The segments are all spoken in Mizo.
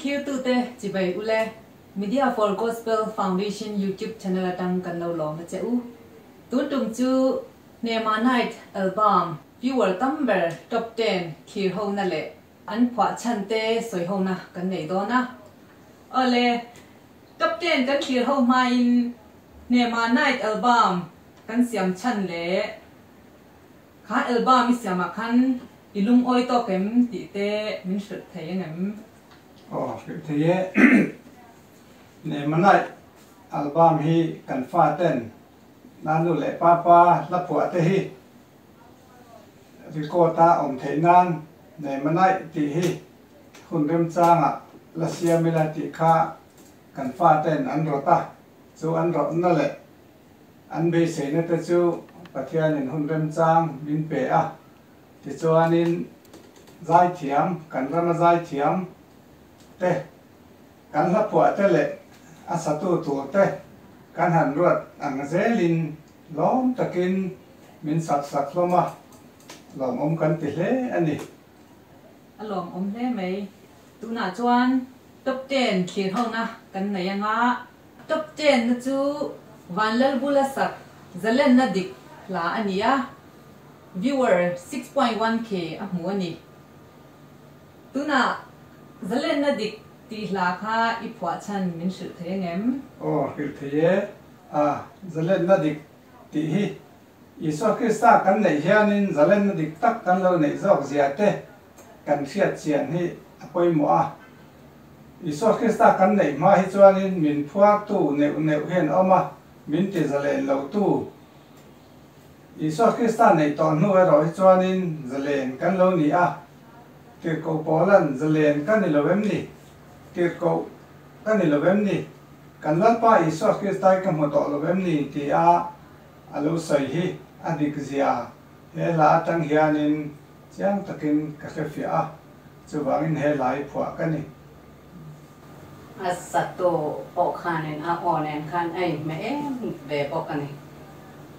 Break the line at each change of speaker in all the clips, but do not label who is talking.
Thlir tu te chibei u le Media for Gospel Foundation YouTube channel atang kan lo lawm a che u. Tun tum chu Hnemah Night album viewer tam ber top ten thlir ho na leh An phuah chhan te sawi hona kan neih dawn a. Awle, Captain kan tir ho hmain Hnema Night album kan siam chhan leh kha album i siamah khan i lungawi tawk em tih te min hrilh thei a nem? Aw, hrilh thei e. Hnema Night album hi kan faten Nanu leh Papa hla phuah te hi. Record a awm theih nan nei manaih tih hi hun remchangah la siam ila tih kha kan fate'n an rawt a, chu an rawtna leh an beiseina te chu Pathianin hun remchang min pe a, tichuanin zaithiam, kan rama zaithiam te, kan hlaphuah te leh a satu tur te kan han ruat ang zelin, Lawm takin min sak sak hlawm a, lawmawm kan ti hle a ni. A lawmawm hle mai. Tunah chuan Top Ten thlir hona kan nei anga, Top Ten na chu Vanlalbu la sak Zalen na dik hla a ni a, viewer six point one K a hmu a ni. Tunah Zalen na dik tih hla kha i phuah chhan min hrilh thei a ngem? Aw, hrilh thei e. A zalenna dik tih hi Isua Krista kan neih hianin zalenna dik tak kan lo neih zawk zia te kan hriatchian hi a pawimawh a. Isua Krista kan neih hma hi chuanin min phuartu neuh neuh hian a awm a, min ti zalen lotu. Isua Krista neih tawh hnu erawh hi chuanin zalen kan lo ni a. Tirhkoh pawlan zalen ka ni lo em ni? Kir koh ka ni lo em ni? Kan Lalpa Isua Kristai ka hmu tawh lo em ni? ti a a lo sawi hi a dik zia he hla atang hianin chiang takin ka hrefiah a, chuvangin he hlai phuah ka ni. A saktu pawh khanin a aw nen khan a inhme em ve bawk a ni.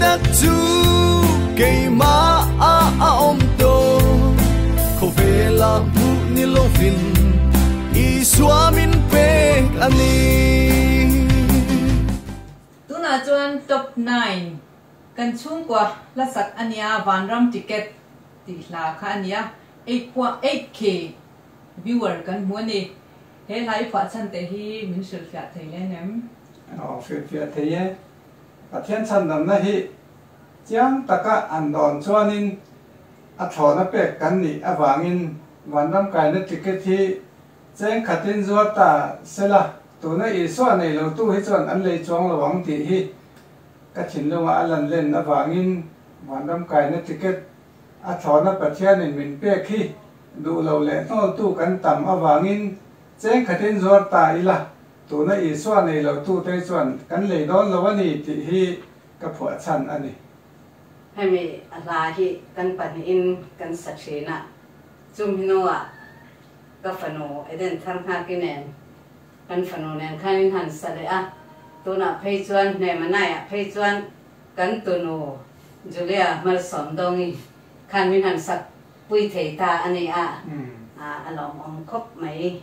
tak chu keimah a a awm tawh khawvela hmuh ni lovin Isua min pek a ni. Tunah chuan Top Nine kan chhungkua hlasak a nia, Vanram Ticket tih hla kha a nia, eight point eight K viewer kan hmu a ni. He hla i fuah chhan teh hi min hrilhfiah thei hle em? Aw hrilhfiah thei e. Pathian chhandamna hi chiang taka an dawn chuanin a thlawhna pek kan nih avangin vanram kaina ticket hi cheng khatin zuar ta sela tuna Isua nei lotu hi chuan an lei chuang lo ang tih hi ka thinlunga a lan len avangin vanram kaina ticket a thlawhna Pathianin min pek hi duhlo leh hnawltu kan tam avangin cheng khatin zuar ta ila Tuna Isua nei lo tu te chuan kan lei dawn lo a ni tih hi ka phuahchhan a ni. Hemi a hla hi kan pahnihin kan sa thin a, chumhnuah ka fanu Eden thar nghaki nen kan fanu nen khan in han sa leh a, tunah phei chuan hne manaiah phei chuan kan tunu Julia hmalsawmdawngi khan min han sak pui thei ta a ni a, a lawmawm khawp mai.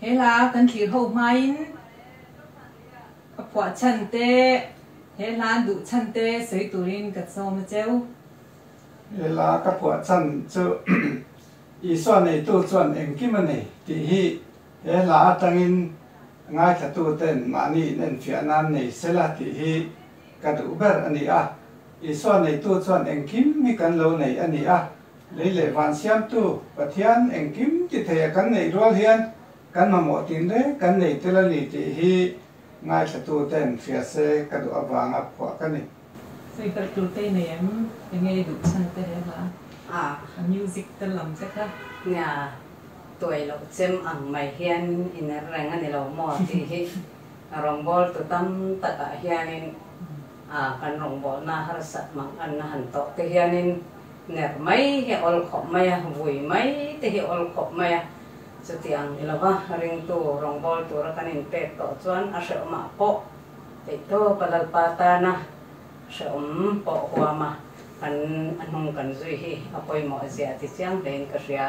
He la kan tlir ho hmain ka phuah chhan te he hlan duh chhan te sawi turin ka sawm a cheu. He la ka phuah chhan chu Isua neitu chuan engkim a ni tih hi he la atangin ngaithatu ten mahni in enfiah nan nei se la tih hi ka duh ber a ni a. Isua neitu chuan engkim hi kan lo nei a ni a, Lei leh van Siamtu Pathian engkim titheiah kan neih rual hian kan mamawh tin reng kan nei tel a ni tih hi ngaihthlatuten hriatse ka duh avang a phuah ka ni. Favourite tur te nei em? Enge i duh chhan te he hlaa? A music te lam te kha. Nia, tuai lo chem ang mai hian i ner reng a ni lo maw tih hi rawngbâwl tu tam takah hianin kan rawngbâwlna harsat manganna han tawh te hianin, nek mai hi awl khawp mai a, vui mai te hi awl khawp mai a, chutiang ni lo va, ringtu rawngbâwl tura kan inpêk tawh chuan a hrehawm ah pawh eihtâwpa Lalpa tâna hrehawm pawh huama kan a hnung kan zui hi a pawimawh zia a ti chiang hlein ka hria.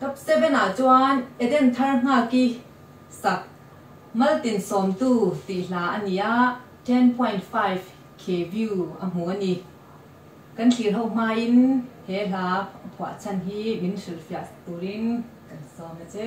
Top seven ah chuan Eden thar nghak i sak mal tin sawmtu tih hla a ni a, ten point five K view a hmu a ni. Kan thlir ho hmain he hla phuah chhan hi min hrilhfiah turin kan sawm e che.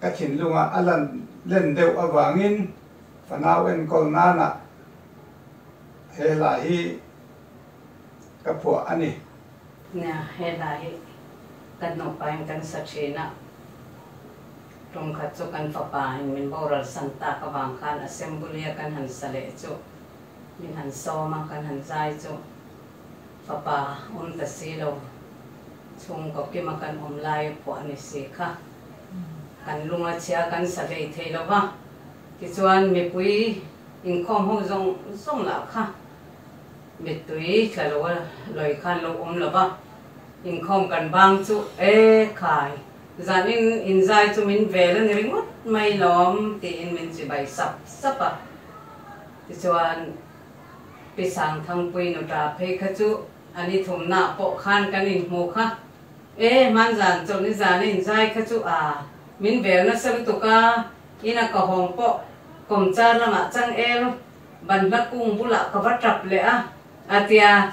ka thinlunga a lan len deuh avangin fanau enkawl nana he hla hi ka phuah a ni. Nia, he hla hi ka nupain kan sa thin a, ṭum khat chu kan fapain min boral san tak avang khan assembly-a kan han sa leh chu min han sawm a, kan han zai chu. Fapa awm ta si lo, chhungkaw kima kan awm lai pawh a ni si kha. Kan lunga chhia kan sa hlei thei lo va, tichuan mipui inkhawm ho zawng zawng lah kha mittui tla lo a lawi khan lo awm lo va, inkhawm kan bang chu e khai zan in inzai chu min vel a ni ringawt mai lawm tiin min chibai sap sap a, tichuan. Pi Sangthangpuii nu ta phei kha chu an i thum na pawh khan kan in hmu kha. E, hman zan chawn i zan in zai kha chu a min ber nasa lutuk a, in a kahawng pawh Kawmchar lamah chang el ban hla kung bulah ka va tap leh a, a tia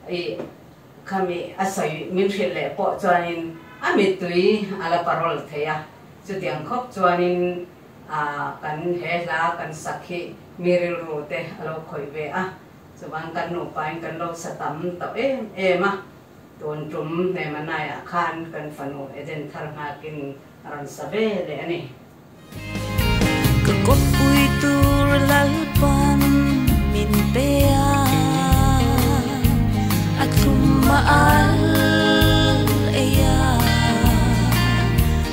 i khami a sawi min hrilh leh pawh chuan in a mittui a la parol thei a, chutiang khawp chuan in. Kan he hla kan sak hi mi rilru te a lo khawih ve a, chuvan kan nupain kan lo sa tam tawh em em a. Tun tum hne manai ah khan kan fanu Eden Thar Nghak in a rawn sa ve leh a ni. Ka kawppui tur lalpan min pe a, a thum a al ei a.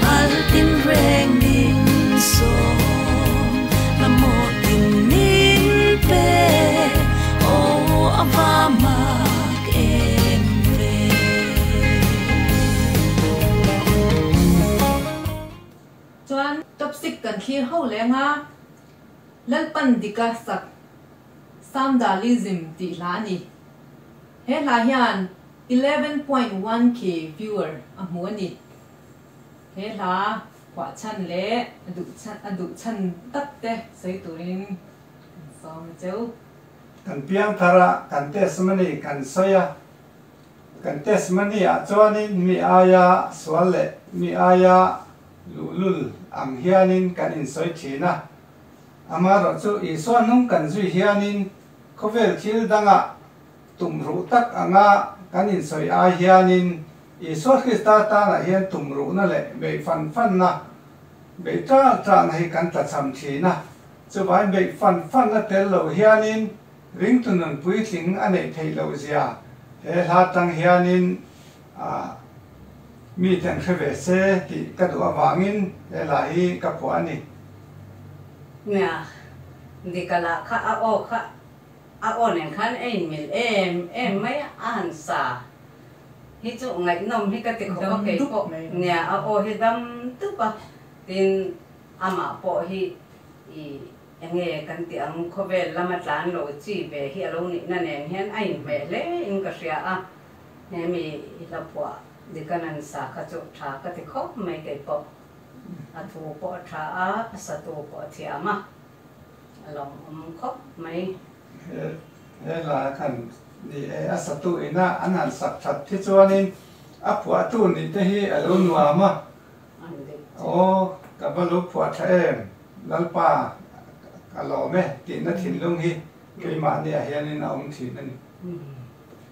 Altin reng nin sawm la maw tin min pe oh a va mak em ve. Chuan topsik kan thlir ho leng a, Lalpan dika sak Samdalism tih hla a ni. He hla hian eleven point one K viewer a hmu a ni. He hla khuahchhan leh a duhchhan tak te sawi turin kan sawm a cheu. Kan piangthar ah kan test money kan sawi a, kan test money ah chuanin mi aia sual leh mi aia luhlul ang hianin kan insawi thin a, amaherawhchu Isua hnung kan zui hianin khawvel thil dangah Tumruh tak anga kan insawi ai hianin Isua Krista tânah hian tumruhna leh beih fan fanna beih ṭâk ṭâkna hi kan tla cham ṭhîn a. Chuvai beih fan fanna tel lo hianin ringtunun puitling a neih theih lo zia he hla ṭang hianin mite an hre ve se tih ka duh avângin he hla hi ka phuah a ni. Nia, dik a lah kha a aw kha. A awn en khan a inmil em em mai a a han sa. Hi chu ngaihnawm hi ka tikawp a kei pawh nia a aw hi dam dup a tin amah pawh hi i enge kan tih ang khawvel lama tlan lo chi ve hi a lo nihna nen hian a inhmeh hle in ka hria a he mi i hlaphuah dik a nan sa kha chu tha ka ti khawp mai kei pawh a thu pawh a tha a a satu pawh a thiam a. A lo awm khawp mai. He he la kan ni e, a satu ina an han sak that khi chuanin a phuahtu nih te hi a lo nuam a. Aw, ka va lo phuah tha em, Lalpa ka lawm e, tihna thinlung hi keimahniah hianin a awm thin a ni.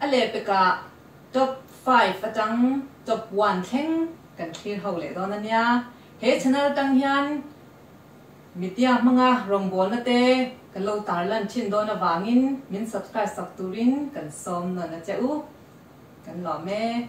A leh pekah Top five atang Top one thleng kan thlir ho leh dawn a nia. He channel atang hian Media hmanga rawngbawlna te kan lo tarlan thin dawn avangin min subscribe sak turin kan sawm nawn a che u. Kan lawm e.